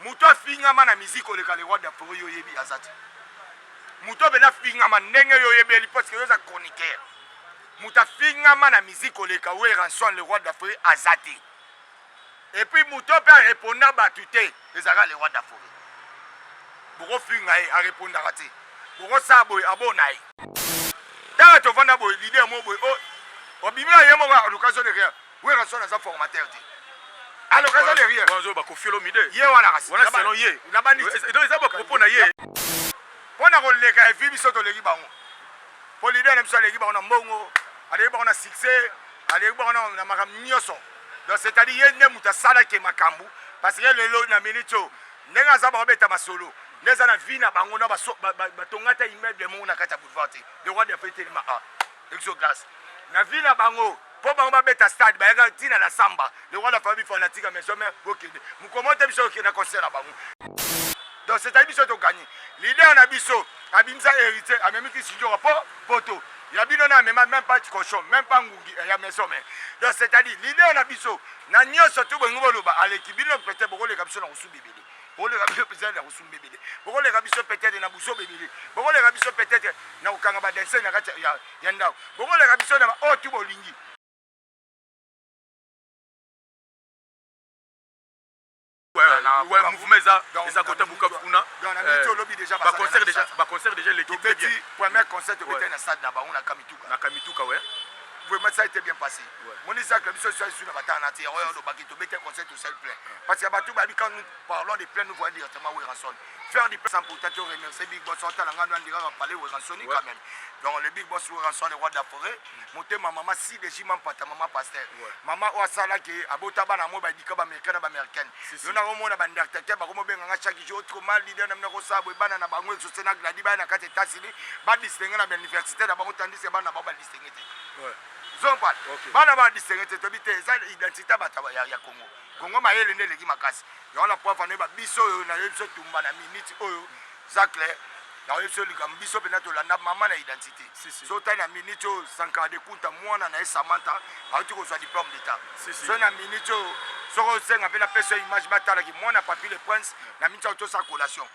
Moto afingama na musique oleka le roi d'Afro yo yebi azati. Moto obele afingama ndenge yo yebeli parce que yo za chroniqueur. Moto afingama na musique oleka we ranson le roi d'Afro azati. Et puis moto pe reponda batu te ezaka le roi d'Afro. Boko finga ye a reponda te. Boko sa boy abona ye. Tala tovanda boy leader mo boy oh obimi ye mo ba occasion de rien. Werrason aza formateur te. Alors eza le rien. Wanzo ba kofi olomide. Ye wana kasi. Wana selon ye. Na bandi. Donc eza ba propos na ye. Pona ko leka evi biso to leki bango. Po leader na biso aleki bango na mbongo, aleki bango na succès, aleki bango na makambo nyonso. Donc c'est-à-dire ye nde moto asalaki makambo parce que lelo na minute oyo ndenge aza bakobeta masolo nde eza na vie na bango na batonga ata immeuble moko na kati ya boulevard te le roi de fete telema a exoglace na vie na bango Po bango ba beta stade bayaka ti na la samba lokola la famille fanatique ya maison mère bokende mokolo moko te biso tokende na concert na bango donc c'est à dire biso to gagne leader na biso abimisa heritier amemi kisidjora po poto ya bino na amema même pas cochon même pas ngungi ya maison mère donc c'est à dire leader na biso na nioso to bolingi boloba aleki bino peut-être bokoleka biso na kosuba ebele bokoleka biso peut-être na kosumba ebele bokoleka biso peut-être na buzoba ebele bokoleka biso peut-être na kokanga badense na kati ya ndako bokoleka biso na baoyo oh, tu bolingi mouvement eza eza kota bukavu kuna baconcert déjà baconcert déjà leki très bien premier concert tobetaki na stade na bango na kamituka na kamituka ouais vraiment ça a été bien passé moni zacle biso so esu na batana te yango olobaki tobetaki concert Sel plein. Parce que bato babi quand nous parlons de plein nous voyons directement Werrason. Faire du plein sans pourtant te remercier Big Boss Santa Langa nous dira parler Werrason ouais. quand même. Donc le Big Boss Werrason le roi de la forêt. Moté ma maman si de jimam pata maman pasteur. Ouais. Maman o sala ke abota bana mo ba dika ba américain na ba américaine. Si, si. Yona ko mona ba ndartete ba ko mo benga nga chaque jour trop mal leader na ko sa bo bana na bango exaucé na gladi ba na kate tasili ba distinguer na ba université na bango tandis que bana ba ba distinguer. Ouais. Zompa. Okay. Bana ba distingue te tobi te eza identité ya bato ya, ya Congo. Congo mayele nde eleki makasi. Yango na pwafa ne ba biso oyo na yo biso tumba na minute oyo zacle na yo biso likambo biso pena tolanda mama na identité. Si, si. Zota na minute oyo Sankara de Kunta mwana na ye Samantha auti kozwa diplôme d'état. Si, si. So na minute oyo soko osenga pe na peso image batala ki mwana Papy le Prince na minute oyo tosa collation.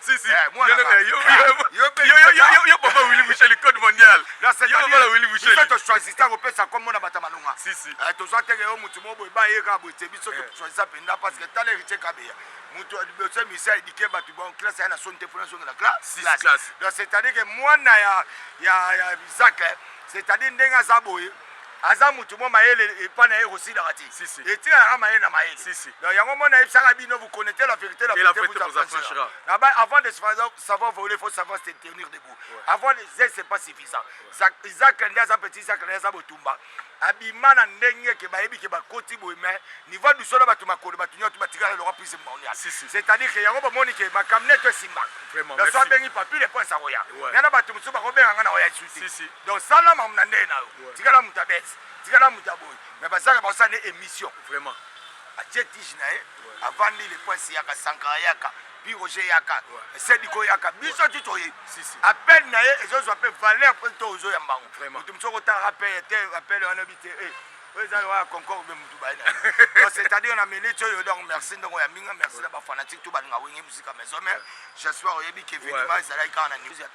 Si, si. Eh, mwana Yo, nga. eh, yo, Eh, yo, yo pe- yo, yo, yo, yo, yo, papa Willy Michel, code mondial. Yo, papa la Willy Michel. biso tochoisisa kopesa nkombo na bato ya malonga Si, si. Eh, tozwa teke yo motu moko boye baye kaka boye te biso Eh. tochoisisa mpenza parce que tala héritier kabeya motu ya liboso ya misi aedike bato ba classe aya na soni te mpona azongela Si, si, classe. donc c'est-à-dire que mwana ya ya ya zak c'est-à-dire ndenge aza boye Aza mutu mwa mayele epa naye ekosilaka te etikaka mayele na mayele donc yango mona yebisaka bino vous connaitez la verite la verite vous affranchira na ba avant de savoir voler faut savoir se tenir debout avoir des ailes c'est pas suffisant Isaac nde aza petit Isaac nde aza botumba abima na ndenge ke bayebi ke bakoti boye mais niveau ya biso na bato makolo bato nyonso batikala lokola prise monia c'est-à-dire ke yango bomoni ke makambo neto esimbaka na so abengi papile mpo esa koya ngai na bato mosusu bakobenga ngai na oya lisusu Donc sala mamu na ndenge na yo. Tikala muta bête. Tikala muta boy. Mais bazaka ba sala émission. Vraiment. Atie tige na ye. Avandi le point si yaka sankara yaka. Puis Roger yaka. Sediko yaka. Biso tu toye. Si si. Appel na ye ezo zo appel valeur pour to ozo ya mbango. Vraiment. Mutu msoko ta rappel te appel wana bite. Eh. Oyo eza lokola concours be mutu baye na ye. Donc c'est-à-dire na minute oyo donc merci ndongo ya minga merci na ba fanatique tout balinga wenge musika maison mais j'espère oyebi que événement ezalaki kaka na news ya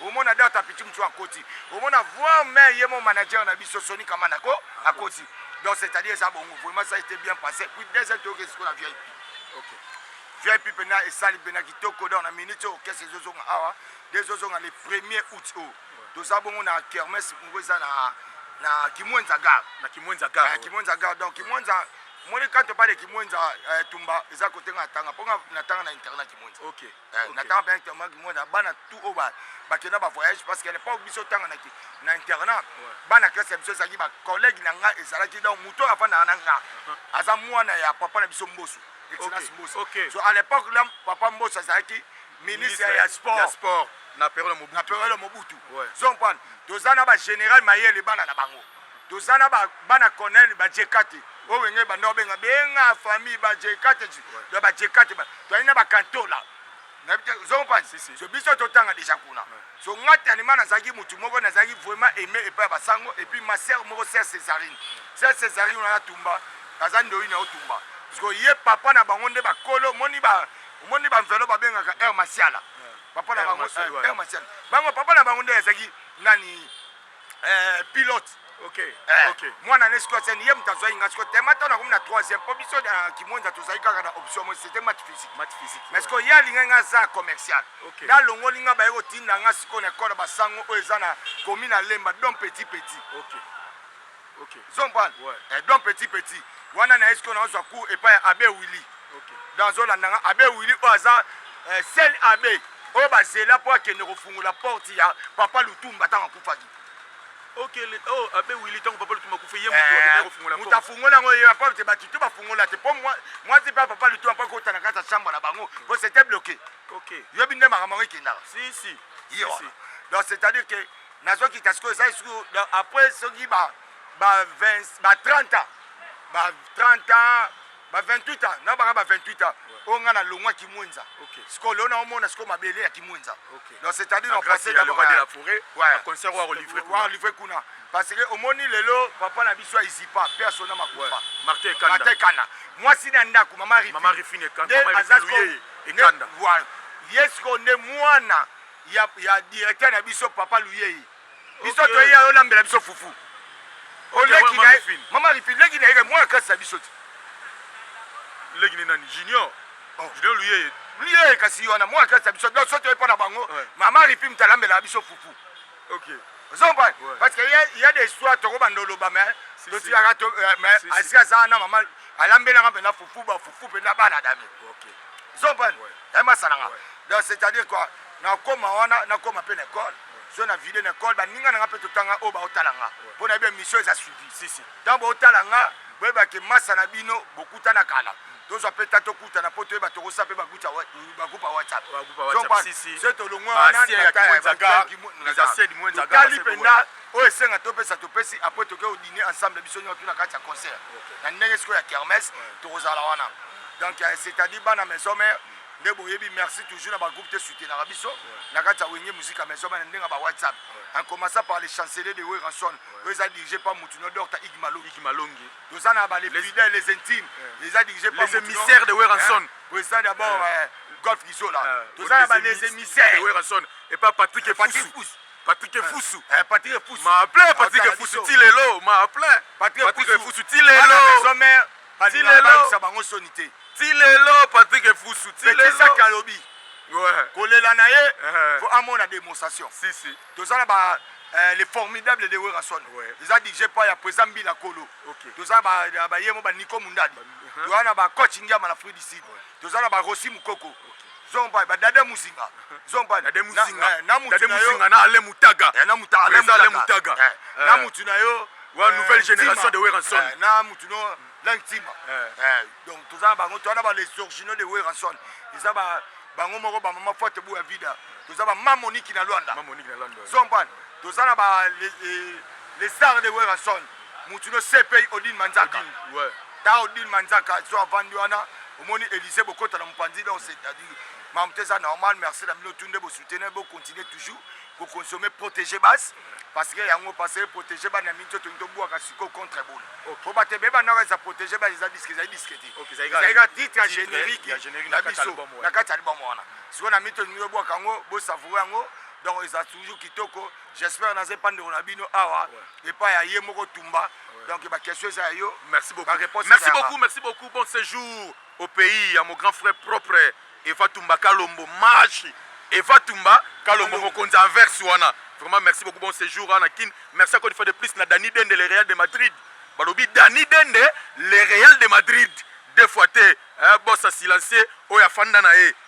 Omona date ya petit mutshu akoti omona voir main ye mon manager na biso Sony Kamana ko akoti donc c'est à dire eza bongo vraiment ça était bien passé puis deuxième toyoki esiko na VIP okay. VIP pena esali pena kitoko donc na minute oyo kese ezozonga awa nde ezozonga le premier août oyo toza bongo na kermesse moko eza na na kimwenza gare na kimwenza gare na kimwenza gare donc kimwenza moni quand on parle de kimwenza euh, tumba eza kotenga na tanga mpo nga na tanga na internat kimwenza okay Eh, na temps ben tellement moi na bana tout au bas ba kena ba voyage parce qu'elle pas biso tanga na ki na internat bana classe ya biso zaki ba collègue na nga ezalaki donc muto avant na na nga uh-huh. aza mwana ya papa na biso mbosu excellence mbosu okay. so à l'époque là papa mbosu azalaki ministre ya sport ya sport na période mobutu na période mobutu ouais. zompan toza na ba général mayele bana na bango Toza na ba bana conel ba jekate oyo wenge ebanda obenga benga famille ba jekate do ba jekate ba toyali na ba kantola nayebi te ozo comprendre Si, si. so biso totanga deja kuna so nga tanima nazalaki mutu moko nazalaki vraiment aime epai ya basango et puis ma sœur moko sœur cesarine sœur cesarine wana tumba aza ndoyi na yo tumba parce que ye papa na bango nde bakolo omoni ba omoni ba mvelo babengaka heure masiala papa na Heure bango Masiala, eh, ouais. heure masiala bango papa na bango nde azalaki nani Eh, pilote Okay. Eh. Okay. Mwana ne sikoyo seni ye moto azwaki nga sikoyo tema ntango nakomi na 3e mpo biso na euh, kimwenza tozalaki kaka na option moi c'était match physique match physique mais sikoyo ye alingaki nga aza commercial okay. nalongoli nga baye kotinda nga sikoyo na ekolo basango oyo eza na komi na lemba don petit petit okay. Okay. Zombal. Ouais. Eh, donc petit petit. Wana na esko na zwa cours epa ya Abbé Willy. Okay. Dans zola nanga Abbé Willy o aza eh, seul Abbé oyo bazela mpo akende kofungola porte ya papa Lutumba ntango akufaki. Okay, oh, Abbé Willy ntango papa Lutumba akufa ye moto eh, akende kofungola porte. Moto afungola yango ye papa te batu te bafungola te mpo mwasi mpe papa Lutumba mpo akota na kati ya chambre na bango mpo c'était bloqué. Okay. Yobi nde makambo yango ekendaka. Si si. Yo. Si, si. Donc c'est-à-dire que nazo kita sikoyo eza lisusu après soki ba ba 20 ba 30 ans ba 30 ans ba 28 ans na baka ba 28 ans oyo ngai na longwa kimwenza sikoyo leo naomona sikoyo mabele ya kimwenza donc c'est à dire na français walivre kuna parce que omoni lelo papa na biso ya izipa mpe asona makufa martin ekanda mwasi na ndako mama rifine nde aza sikoyo ye sikoyo nde mwana ya, ya directeur na biso papa luyei biso okay. toyeya olambela biso fufu oleki na mama rifi leki na ye mwana kasi na biso te leki ni nani junior oh. junior luyeye luyeye kasi wana mwana kasi na biso donc so toye mpo na bango mama rifi moto alambelaka biso fufu okay. ozompa parce que il y a des histoires tokobanda oloba mais totikaka euh, mais asika aza na mama alambelaka mpenza fufu bafufu mpenza bana dami ozompa Naye masala nga donc c'est à dire quoi nakoma wana nakoma pe na ecole soki na vide na ecole baninga na nga pe totanga oyo baotala nga po nayebi emission eza suivi tango bootala nga boyeba ke masa na bino bokutana kala tozwa pe ta tokutana po toyeba tokosala pe bagroupe ya whatsapp soki tolongwe wana totali mpenza oyo esenga topesa topesi apres toke odine ensemble biso nyotu na kati ya concert na ndenge sikoyo ya kermes tokozala wana donc euh, c'est-à-dire bana maison mère nde boyebi merci toujours na bagroupe te soutenaka biso na kati ya wenge musike ya maison mère na ndenge ya ba whatsapp en commençant par le chancelier de weranson oyo eza dirigé par mutuno docta igmalongi toza na ba les fidèles les intimes eza dirigé par les émissaires de weranson oyo eza d'abord euh, golf gizola toza na ba les émissaires de weranson et pas patrick efusu Patrick Efusu. Eh, Patrick Efusu. Ma plein Patrick Efusu ti lelo, ma plein. Patrick Efusu ti lelo. Maison mère. Ti lelo. Sa bango soni te. Ti lelo Patrick Efusu ti lelo. Betisa Kalobi. Ouais. Kolela na ye. Faut amona démonstration. Si si. Toza na ba eh, le formidable de Werrason. Ouais. Eza DJ pa ya Pweza Mbila Kolo. Okay. Toza ba ba yemo ba Nico Mundadi. Toza na ba coach Ngiama na Fruit du Sud. Toza na ba Rossi Mukoko. Okay. Zomba ba dada muzinga. Zomba na dada muzinga. Eh, na mutu na yo. Na ale mutaga. Eh, na mutu ale mutaga. Ale mutaga. Eh, eh, na mutu na yo. Wa eh, nouvelle génération de Weranson. Eh, na mutu no lang tima. Eh. eh, donc toza bango to na ba les originaux de Weranson. Eza ba bango moko ba mama forte bu ya vida. Toza ba mamoniki na Luanda. Mamoniki na Luanda. Zomba. Toza na ba les, les stars de Weranson. Mutu no CPI Odile Manzaka. Odile, ouais. Ta Odile Manzaka azo avandi wana omoni Elysee bokota na mupanzi donc c'est mamuta eza normal merci na bino tout nde bo soutenir bo continuer toujours ko consommer protéger base parce que yango parce que protéger bana mingi to tongi to buaka siko contre ebola okay. po bato ebeba naka eza protéger base eza disque ezali disque te okay, ezali ka titre ya générique na biso na kati ya album wana siko na mingi to tongi to buaka yango bo savoure yango donc eza toujours kitoko J'espère naza epa ndeko na bino awa epa ya ye moko tumba donc ba question eza ya yo merci beaucoup ba réponse merci beaucoup merci beaucoup bon séjour au pays ya mon grand frère propre Eva Tumba Kalombo Mashi Eva Tumba Kalombo mokonzi averse wana vraiment merci beaucoup bon séjour na kin merci encore une fois de plus na Dani Dende le Real de Madrid balobi Dani Dende le Real de Madrid deux fois te eh, bossa silencieux oyo afanda na ye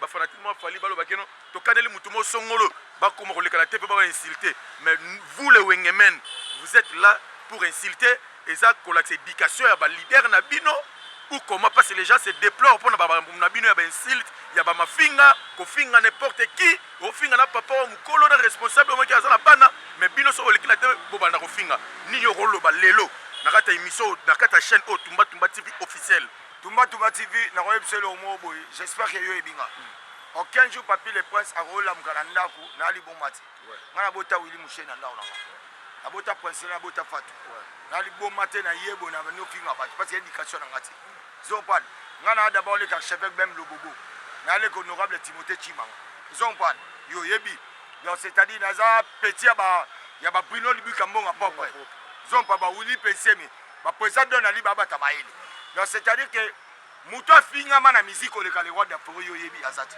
Ba fanatiques mwa Fally baloba keno tokaneli mutu mo songolo bakoma koleka na te pe ba insulter mais vous les wengemen vous êtes là pour insulter eza kolakisa education ya ba leader na bino ou comment parce que les gens se déplorent pona ba bambu na bino ya ba insulte ya ba mafinga kofinga n'importe qui ofinga na papa wa mukolo na responsable moko aza na bana mais bino soki oleki na te bobanda kofinga nini okoloba lelo na kati ya emission na kati ya chaîne oyo tumba tumba tv officiel Tumba Tumba TV nako yebisa yo eloko moko boye j'espère que yo oyebi nga aucun jour Papy le Prince akoki olamuka na ndaku naya liboma te nga na bota Willy Musheni na ndaku na nga na bota Princela na bota Fatou naya liboma te na yebo na bandi ofinga batu parce que education na nga te ezo comprendre nga naya d'abord leka archevêque Bem Lobobo naya leka honorable Timothee Tshimanga ezo comprendre yo oyebi donc c'est à dire naza petit ya ba ya ba Bruno Libuka Mbonga propre ezo comprendre ba Willy Pensemi Ba president doit nali ba bata mayele. Donc c'est à dire que mutu afingama na musique oleka le roi d'Afro yo yebi azati.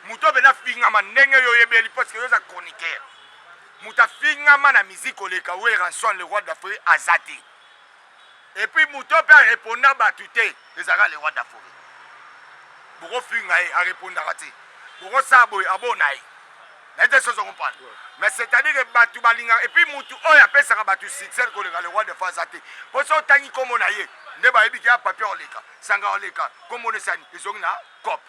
Mutu abela fingama ndenge yo yebeli parce que yo za chroniqueur. Mutu afingama na musique oleka we ranson le roi d'Afro azati. Et puis mutu pe reponda batu te ezaka le roi d'Afro. Boko finga ye a repondaka te. Boko saboy abona ye. nayebi te soso comprendre mais c'est à dire que bato balingaka et puis mutu oyo apesaka bato succès koleka le roi de france aza te mpo so otangi nkombo na ye nde bayebi ke ya papier oleka sanga oleka nkombo na esani ezongi na cope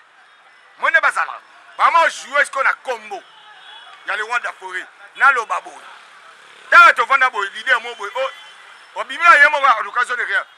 moi nde bazalaka bama ojoue siko na nkombo ya le roi de foret naloba boye ntango tovanda boye lider mo boye obimi na ye moko ya location de rien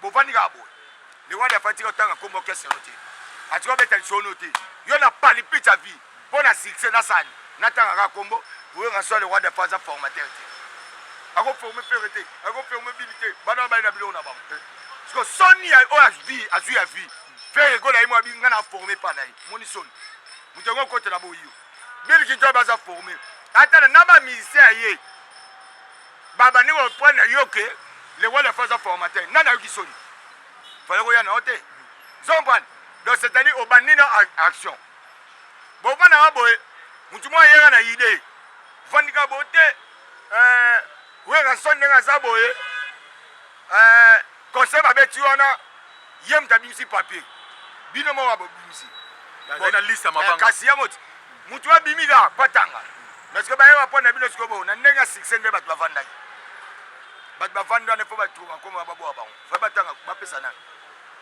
Bovandi kaka boye. Le roi Diafa tika otanga kombo orchestre no te. Atika obeta lisolo no te. Yo na palipita vie mpo na succès na sani. Natanga kaka kombo oyo en soi le roi Diafa aza formateur te. Ako former Ferre te, ako former Bini te. Bana baye na biloko na bango. Siko soni ya oyo azwi azwi ya vie. Ferre gola ye mwa bi nga na former pa na ye. Moni soni. Moto yango okotela boyo. Bill Clinton baza former. Atala na ba musiciens ya ye. Ba bandi ko prendre na yo que le roi de la France aza formateur. Nani ayoki soni? Fallait koya na yo te. Ozo comprendre? Donc c'est à dire obandi na action. Bo vanda nga boye mutu mwa yera na idee. Vandika bo te. Euh, Werrason ndenge aza boye. Eeh concert ba beti wana ye mutu abimisi papier bino moko ba bobimisi Nazali na liste ya eh, mabanga. kasi yango ti mutu abimi ka patanga mais sikoyo baye ba pona bino sikoyo bo na ndenge ya succès nde batu bavandaki batu bavandi wana il faut ba trouva kombo ya baboa bango fa batanga bapesa nani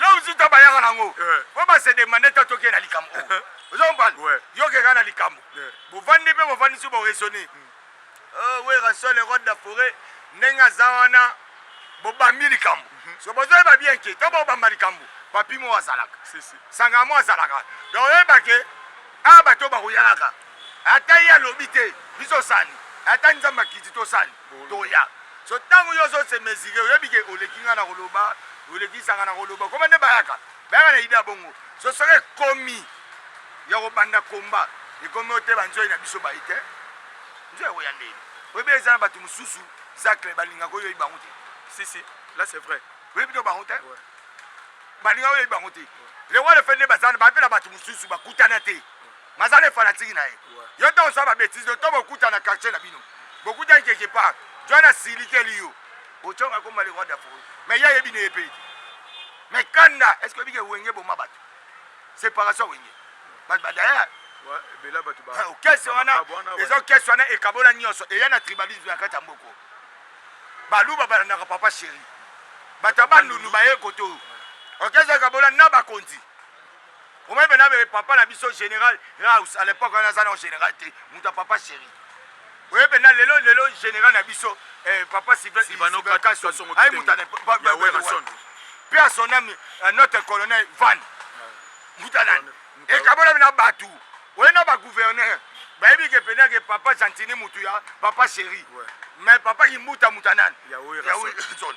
lozuta bayaka nango po base demande ta toke na likambo oyo ozombana yokeka na likambo bovandi mpe bovandisi boraisonne werasole rode da foret ndenge aza wana bobambi likambo so bozoyeba bien ke to bobamba likambo papi mo azalaka sangamo azalaka donc oyeba ke awa bato bakoyalaka Ata ye alobi te biso sani ata nzambe akiti to sani toya so tangu yo ozo se mesure oyebi ke oleki nga na koloba oleki sanga na koloba koma nde bayaka bayaka na idea bongo so soki ekomi ya kobanda komba ekomi ote ba nzoyi na biso bayi te nzoyi ekoya ndeni oyebi eza na batu mususu zacle balinga ko yoyi bango te si si là c'est vrai oyebi to bango te ouais. balinga oyebi bango te le wale fende bazana bapela bato mosusu bakutana te Naza le fanatique na ye. Yo tango osala ba betises oyo to bokuta na quartier na bino. Bokutaki quelque part. John asilikeli yo. Ochong akoma le roi d'Afro. Mais ye ayebi ne ye pe te. Mais kanda, est-ce que oyebi ke Wenge eboma batu? Separation ya Wenge. Batu ba d'ailleurs kese wana ezo kese wana ekabola nyonso eya na tribalisme na kati ya mboko baluba balandaka papa sheri bato ya bandundu baye koto okese ekabola na bakonzi Omoni bena bebe papa na biso general Raus à l'époque wana aza na general te mutu ya papa chéri oye bena lelo lelo general na biso eh, papa Sylvain Sylvano Kason aye mutu ya Werrason pe à son âme euh, notre colonel Van mutu ya nani ekabola bena batu oye na ba gouverneur bayebi ke pena ke papa Gentini mutu ya papa chéri mais papa Kimbuta mutu ya nani ya Werrason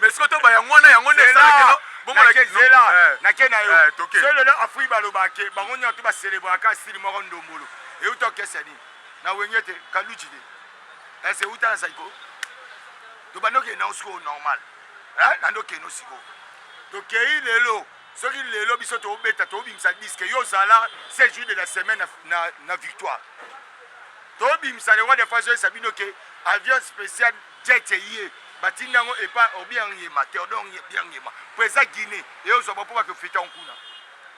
Mais sikoyo to bayango wana yango nde esalaki no bomona ke zela eh. na ke na yo eh, toke so lelo afui baloba ke bango nyonso ba célébrer ka style moko ndombolo et uta kesa ni na wenge te kaluji te est ce uta na saiko to bando ke na siko normal hein na ndo ke no siko to kei lelo soki lelo biso to obeta to obimisa disque yo zala 16 jours de la semaine na na, na victoire to obimisa le roi de fazo sabino ke avion spécial Tchetche ye batindi yango epa obiangema Theodore biangema po eza Guinee et ozua ba po ba kofete yango kuna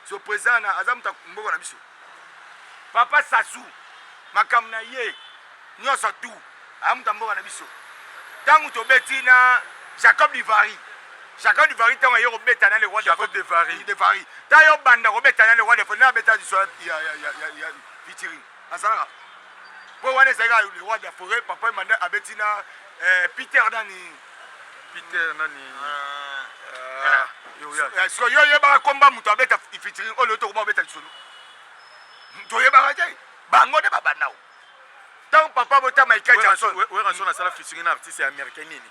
so president wana aza mutu ya mboka na biso papa Sassou makambo na ye nionso tout aza mutu ya mboka na biso tangu tobeti na Jacob Divari Jacob Divari tangu aye kobeta na le roi Jacob Divari Divari ta yo banda kobeta na le roi Divari na abeta liso ya ya ya ya ya featuring azalaka po wana ezalaki ayo le roi de la forêt papa emanda abeti na eh, peter nani peter nani ah. Ah, eh, siko yo oyebaka komba moto abeta ifitiri oyo tokoma obeta lisolo toyebaka te bango nde babandao ntango papa botama ikajason werasona asala fitiri na artiste ya américain nini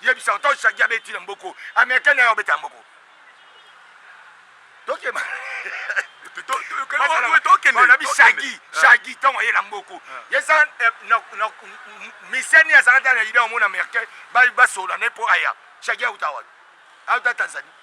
yebisa to shagi abeti na mboko américaine ayo obeta mboko tokeba na bishagi shagi ntango aye na mboko yesa miseni azalaki na idée omona américain basolola ne mpo aya shagi auta wapi auta tanzanie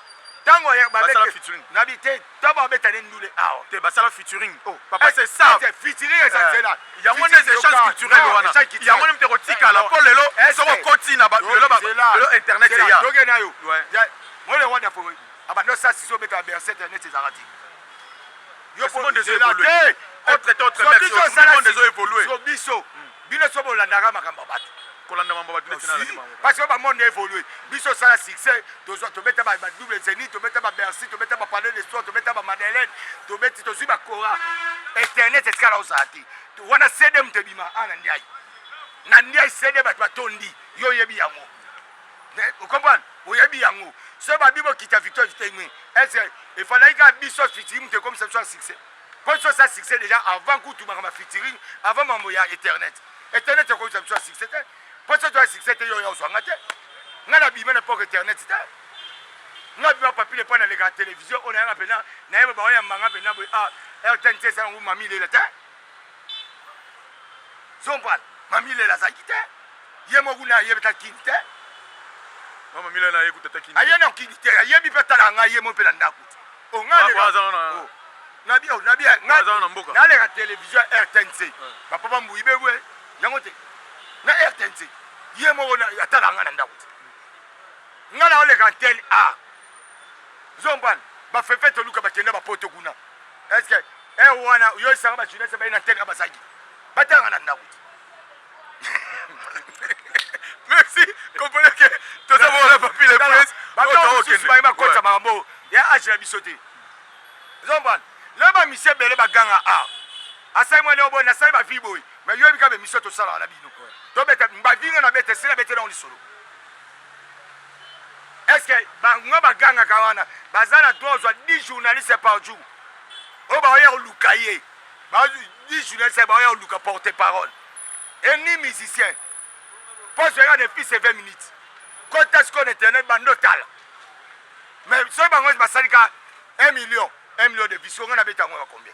Tango ya ba bete na bi te tango ba beta ne ndule awa te ba sala featuring oh papa c'est ça c'est featuring eza zela ya ngo ne c'est chance culturelle wana ya ngo ne mteko tika la po lelo soko koti na ba lelo ba lelo internet ya doge na yo ya mole wanda fo aba no sa siso beta berset ne c'est zarati Yo po monde ezo évoluer. Autre temps autre mère. Tout le monde ezo évoluer. Yo biso bino so bolandaka makambo ya bato kolanda mambo bato neti nalandi bango parce que ba monde évolue biso sala succès tozwa tobeta ba double zeni tobeta ba bercy tobeta ba palais de soir tobeta ba madeleine tobeti tozwi ba cora internet etikala ozala te wana cd moto ebima ana ndiaye na ndiaye cd bato batondi yo oyebi yango Vous comprenez Oyebi yango. Ce ba bibo kita victoire vite mais est-ce il fallait que biso featuring te comme ça soit succès. Quand ça soit succès déjà avant que tu ma featuring, avant mambo ya internet. Internet c'est comme ça soit succès. Quand ça soit succès te yo yo swanga te. Ngala bima na poko internet te. Ngala bima papi le pona la télévision on a pena na yeba ba ya manga pena bo ah RTNC ça ngou mami le la te. Zombal, mamilela azalaki te ye moko kuna ayebi ta kini te mama mila na ye kuta ta kini aye na kini te ayebi pe tala nga ye mo pe na ndaku o nga le ka o na bi o na bi nga na mboka na le ka television RTNC ba papa mbuyi be we yango te na RTNC ye moko na atala nga na ndaku te nga na le ka antenne A zombal ba fefe toluka bakenda ba poto kuna est-ce que Eh wana yo esanga ba jeunesse baye na teka bazaki. Batanga na ndaku. Merci. Comprenez que tous avons la papille les princes. Ba to okende. Ba ba kota makambo. Ya age na biso te. Zomba. Là ba mise bele ba ganga a. Asai mwana obo na sai ba vie boy. Mais yo bika be mise to sala na bino. To beta ba vie na beta sila beta na lisolo. Est-ce que bango bagangaka wana baza na droit ozwa 10 journalistes par jour oyo baoya koluka ye ba 10 journalistes baoya koluka porte parole et ni musicien poste yaka depuis c'est 20 minutes kota sikoyo na internet bando tala mais soki bango basali ka 1 million 1 million de vues sikoyo ngai nabeta yango ya combien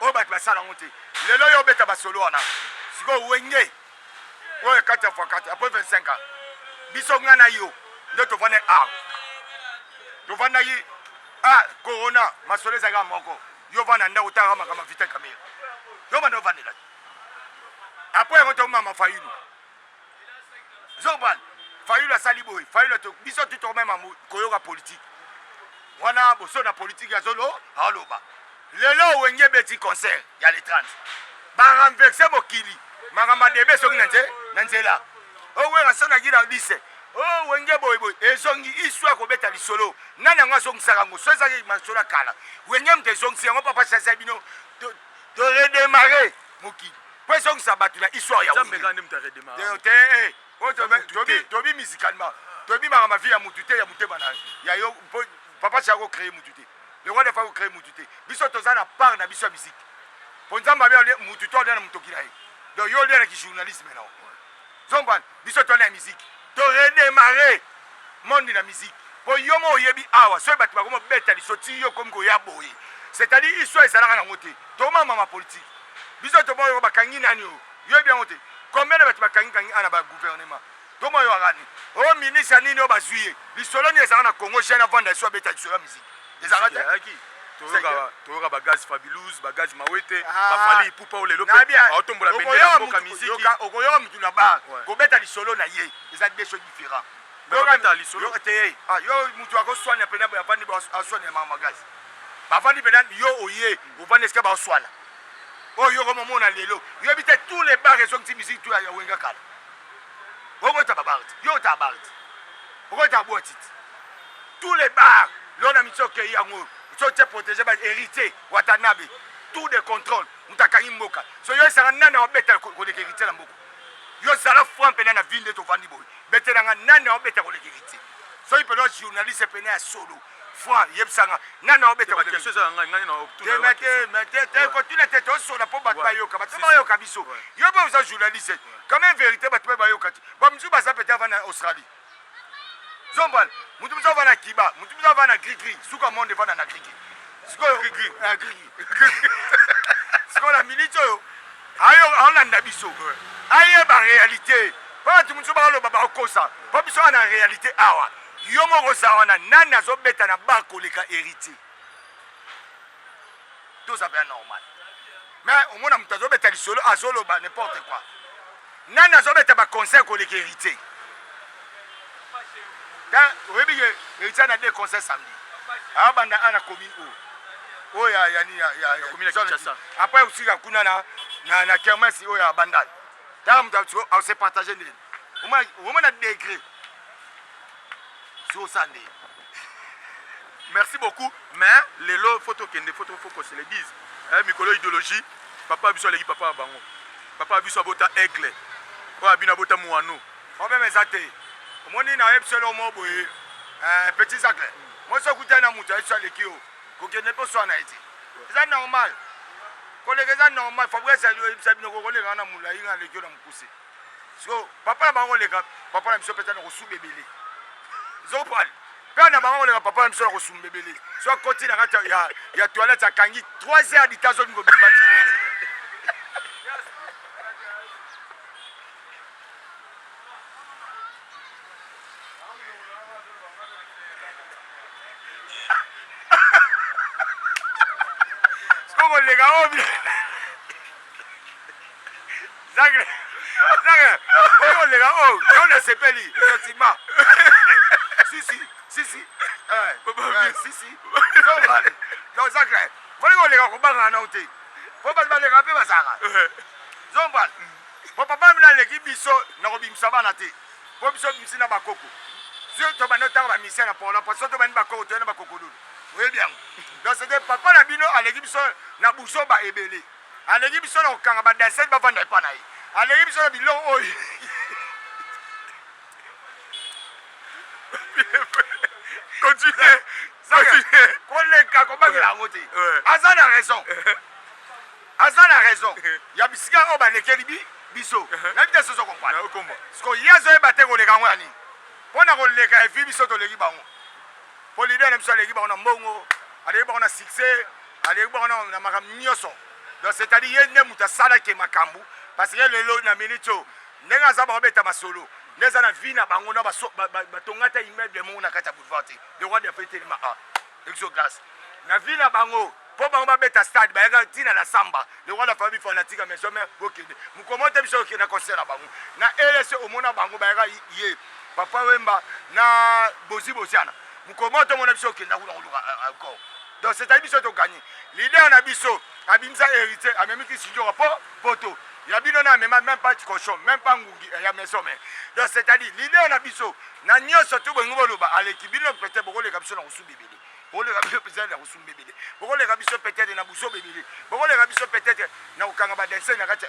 oyo batu basala yango te lelo yo obeta basolo wana sikoyo wenge oyo kati ya fakati apres 25 ans biso nga na yo nde tovanda a tovandaki a corona masolo ezalaka moko yo vanda ndako otalaka makambo ya vita kamere yo banda ovandela te apres yango tomama fayulu zobal fayulu asali boye fayulu to biso tu tokomema koyoka politike wana boso na politike azolo aoloba lelo wenge beti concert ya le 30 barenverse mokili makambo adebe soki na nze na nzela owera oh, sonaki na lise o oh, wenge boyeboye ezongi isu akobeta lisolo nani yango azongisaka yango so ezaki masolo ya kala wenge moto ezongisi yango papa sasa bino toredemare mokili po ezongisa bato na histoire ya nzambe kaka nde moto aredemara te eh, oh, tobi musicalement tobimaka mavi ya motu te ya motema na ya yo po papa chako créer motu te le roi defa ko créer motu te biso toza na part na biso ya musique po nzambe abi mutu to alia na motoki na ye donc yo olia na kijournalisme nao Zombo wana biso tona ya musique to redemarre monde na musique po yo mo oyebi awa soki batu bakomi obeta liso ti yo okomi koya boye c'est à dire histoire ezalaka nango te toma mama politique biso toma yo bakangi nani oyo yo yebi yango te combien de batu bakangi kangi ana ba gouvernement toma yo akani o ministre nini oyo bazui ye lisolo nini ezalaka na Congo jeune avanda liso abeta lisolo ya musique ezalaka te ayaki toyoka toyoka ba gaz fabulous ba gaz mawete ah. ba fali ipupa o lelo pe aotombola bende ya mboka miziki okoyoka mutu na bar kobeta lisolo na ye eza deux choses différents yokata lisolo te ah, yo mutu akoswana pena bafandi aswana ya mama gaz bafandi pena yo oye ofandi esika baoswana oyo oh, yoko momona lelo yoyebi te tous les bar ezongisi miziki tu ya wenga kala okota babarte yo ota barte okota bwatiti Tout les bar lelo na miso okeyi yango so te protege ba héritier watanabe tout de contrôle moto akangi mboka so yo esanga nani aobeta koleka héritier na mboka yo zala franc mpena na vie nde tovandi boye betelanga nani aobeta koleka héritier soki mpena journaliste mpena ya solo franc yebisanga nani aobeta kotuna te tosola mpo bato bayoka bato bayoka biso yo mpe oza journaliste quand même vérité bato mpe bayoka te bamosusu baza pete avanda na australie zombal mutu mutu avanda kiba mutu mutu avanda grigri suka monde evanda na grigri sikoyo grigri eh, grigri sikoyo na miniti oyo ayo aolanda biso ayeba réalité mpo bato mosusu baoloba bakokosa mpo biso awa na réalité awa yo moko oza wana nani azobeta na bar koleka héritier toza pe normal mais omona moto azobeta lisolo azoloba n'importe quoi nani azobeta baconcert koleka héritier oyebi ye héritier ana de concert samedi abanda ana commune o oh. oyo oh, yani après osika kuna na kermesi oyo ya bandal tala moto ase partage ndeni omona degre zosa nde merci beaucoup mais lelo fo tokende fo se le dise eh, mikolo ya idéologie papa biso aleki papa ya bango papa biso abota aigle oyo abino abota moano problème eza te omoni na yebisi elo mo boye eh, petit sacle mosi okutai na moto ayebisi aleki yo kokende mpe oswana ye te eza normal koleka eza normal fabrice ayebisa bino kokoleka na molai nga aleki yo na mokuse Siko papa na bango koleka papa na biso mpe tani kosuba ebele zopale père na bango koleka papa na biso na kosumba ebele so akoti na kati ya, ya toilette akangi 3 heures dita azomi kobimba te koleka oyo Zagre. Zagre. Oyo lega oh, yo na sepeli effectivement. Si si, si si. Eh, eh, si si. Yo bani. Yo Zagre. Oyo lega ko banga na uti. Po ba ba lega pe ba zaka. Zombal. Po papa mina leki biso na ko bimisa bana te. Po biso bimisi na bakoko. Zio to bana tanga ba misia na polo, po so to bana bakoko to na bakoko lulu. Oyebi yango. Donc c'était papa na bino aleki biso na buzoba ebele. Aleki biso na kokanga ba danseuses bavanda epa na ye. Aleki biso na biloko oyo. Continue. Continue. Koleka kobangela yango te. Aza na raison. Aza na raison. Ya bisika oyo balekeli bi biso. Na bita soso kompana. Siko ye azoyeba te koleka yango ya nini? Mpo na koleka evi biso toleki bango. po leader na biso aleki bango na mbongo aleki bango na succès aleki bango na makambo nyonso donc c'est à dire ye nde moto asalaki makambo parce que lelo na minute oyo ndenge aza baobeta masolo nde eza na vie na bango na batonga ata immeuble moko na kati ya boulevard te le roi de fe telema a exoglace na vie na bango Po bango ba beta stade bayaka ti na la samba lokola la famille fanatique ya maison mère bo kende mokolo moko te biso toko kende na concert na bango na RSC omona bango bayaka ye papa wemba na bozi boziana mokolo moko te omona biso toko kenda kuna koluka euh, encore donc c'est à dire biso to gagner leader na biso abimisa héritier amemi ki sindjora po poto ya bino na amema même pas cochon même pas ngungi eh, ya maison mère donc c'est à dire leader na biso na nyoso to bolingi boloba aleki bino peut-être bokoleka biso na kosuba ebele bokoleka biso peut-être na kosumba ebele bokoleka biso peut-être na buzoba ebele bokoleka biso peut-être na kokanga badense na kati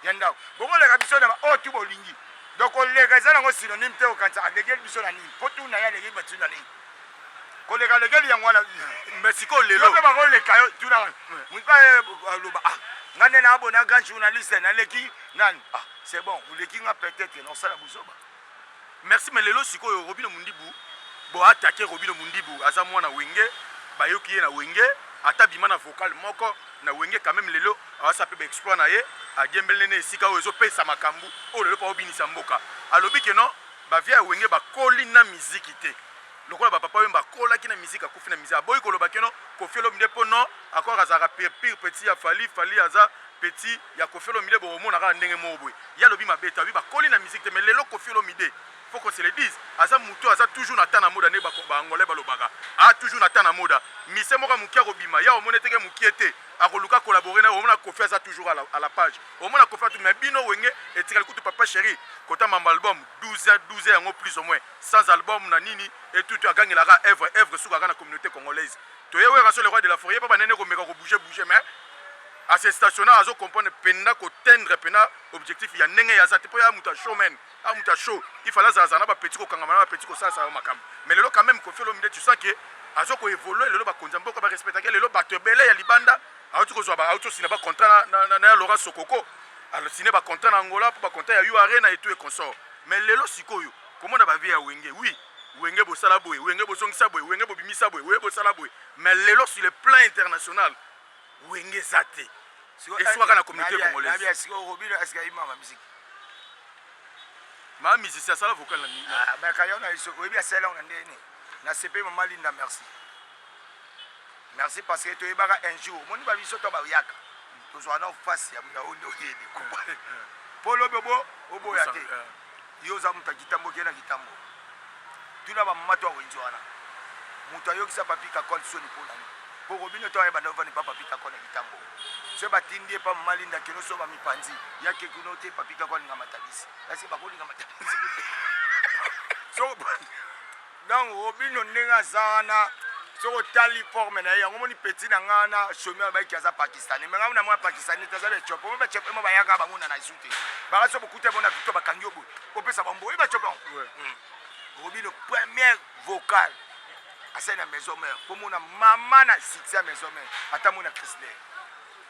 ya ndako bokoleka biso na baoyo oh, tu bolingi donc koleka eza nango synonyme te okanisa alekeli biso na nini mpo tuna ye alekeli bato na nini koleka alekeli yango wana mais sikoyo lelo mpe bakoleka yo tuna moto aloba ah nga nde naabona grand journaliste naleki nani ah c'est bon oleki nga peut-être na osala buzoba Merci mais lelo sikoyo robino mundibu bo attaque robino mundibu aza mwana wenge bayoki ye na wenge ata abima na vocal moko na wenge quand meme lelo awasa pe ba exploit na ye adiembelne ne esika oyo ezo pesa makambu oyo lelo po abinisa mboka alobi que non ba vieux ya wenge ba koli na miziki te lokola ba papa wemba akolaki na miziki akufi na miziki aboyi koloba que non koffi olomide po non akoka azalaka pire petit ya fally fally aza petit ya koffi olomide bokomona kaka ndenge moko boye ye alobi mabe te alobi bakoli na musique te mais lelo koffi olomide faut qu'on se le dise aza mutu aza toujours na temps na moda nde baangolais balobaka a toujours na temps na moda mise moko ya moke akobima ya omona eteke mokie te akoluka kolabore na omona koffi aza toujours à la page omona koffi atu mais bino wenge etikali kutu papa chéri kota mambo album 12 12 yango plus ou moins sans album na nini etutu agangelaka œuvre œuvre sukaka na communauté congolaise toye wera so le roi de la forie pa banene komeka kobouge bouge mais A se stationa azo comprendre penda ko tendre penda objectif ya ndenge ye aza te po ye aza mutu ya show man aza mutu ya show il fallait azala zala na ba petits ko kangama na ba petits ko salisa yo makambu mais lelo quand meme koffi olomide tu sens que azo ko evoluer lelo bakonzi ya mboka ba respectaka ye lelo batu ebele ya libanda awuti kozua ba awuti osina ba contrat na na na ya Laurent Sokoko a signer ba contrat na Angola po ba contrat ya U Arena et tout et consort mais lelo sikoyo komona ba vie ya wenge oui wenge bosala boye wenge bozongisa boye wenge bobimisa boye wenge bosala boye mais lelo sur le plan international wenge eza te esukaka na communauté congolaise ma musicien asala vocal na nini ah, bakayo na biso oyebi asala yango na ndenge nini na sepe mama linda merci merci parce que toyebaka un jour omoni ba biso to baoyaka tozwaka na face ya oyo nde oyebi mpo lobi oboya te Yo oza mutu ya kitambo ke na kitambo tuna ba mama to ya wenze wana mutu ayokisa papy kakol soni po nani po robino to ayebanda ovanda epa papy kakol ya kitambo soki ba tindi epa mama linda keno soki ba mipanzi ya ke kuna ote papy kakol alinga matabisi kasi bakolinga matabisi soki Donc robino ndenge aza wana soki otali forme na ye yango omoni petit na nga wana somi alobaki ke aza pakistanais me ngai na mwa pakistanais te aza baethiopie omo baethiopie mo bayaka bango na nazu te baka so bokuta bona victor bakangi yo boye opesa bambo oye baethiopie yango hmm. robino première vocale asali na maison mère komona mama na succès ya maison mère ata mona crisler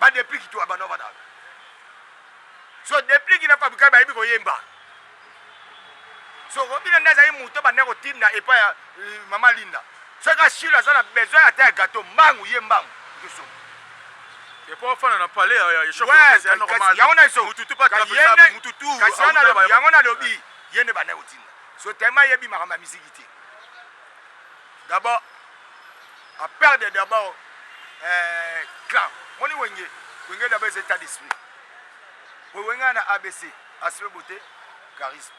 ba deplic to abana bana so deplic na fabrika bayebi koyemba so obina nde azali moto banda kotinda epa ya euh, mama linda soki ashilo aza na besoin ata ya gato mbangu ye mbangu toso epo ofana na palais ya yango na iso yango nalobi ye nde banda kotinda so tellement ayebi makambo ya miziki te D'abord a perdre d'abord eh, clan moni wenge wenge d'abord eza état d'esprit boye wenge ya na abc aspect beauté charisme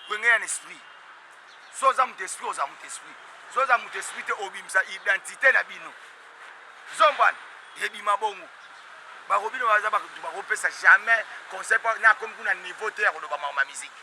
wenge ya na esprit so oza moto esprit oza moto esprit so oza moto esprit te obimisa identité na bino zombana ebima bongo bakobi na baza bato bakopesa jamais conseil mpo nakomi kuna niveau te ya koloba makambo ya miziki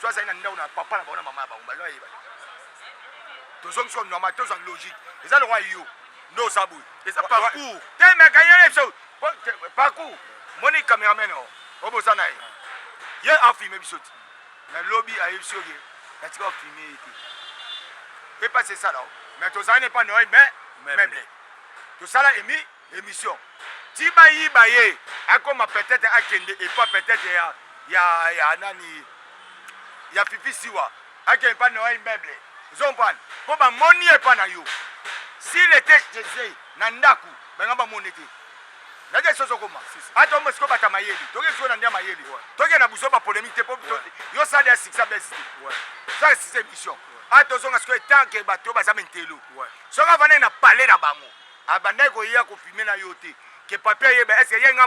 soki azali na ndako na papa na bango na mama na bango baza bayeba tozongisi ko normal tozwa logique eza lokola yo nde oza boye eza parcours te mekanyele biso parcours moni cameraman o oboza na ye ye afilme biso ti na lobi ayebi biso ke natika ofilme ye te epasi esala o mais tozali na epa noye mais meuble tosala emi emission ti ba yiba ye akoma peut-etre akende epa peut-etre ya ya ya nani ya fifi siwa akende epa noa immeuble ozo comprendre po ba moni ye epa na yo s'il était chez ye na ndaku banga ba moni te naza esi ozokoma ata omba sikoyo bata mayele toke sikoyo na ndia mayele toke na buzo ba polémique te po yo sali ya succès besi te ça c'est émission ata ozonga sikoyo tant que bato baza mentelo Soki avandaki na palais na bango abandaki koya ko fumer na yo te que papy ayeba est ce que ye nga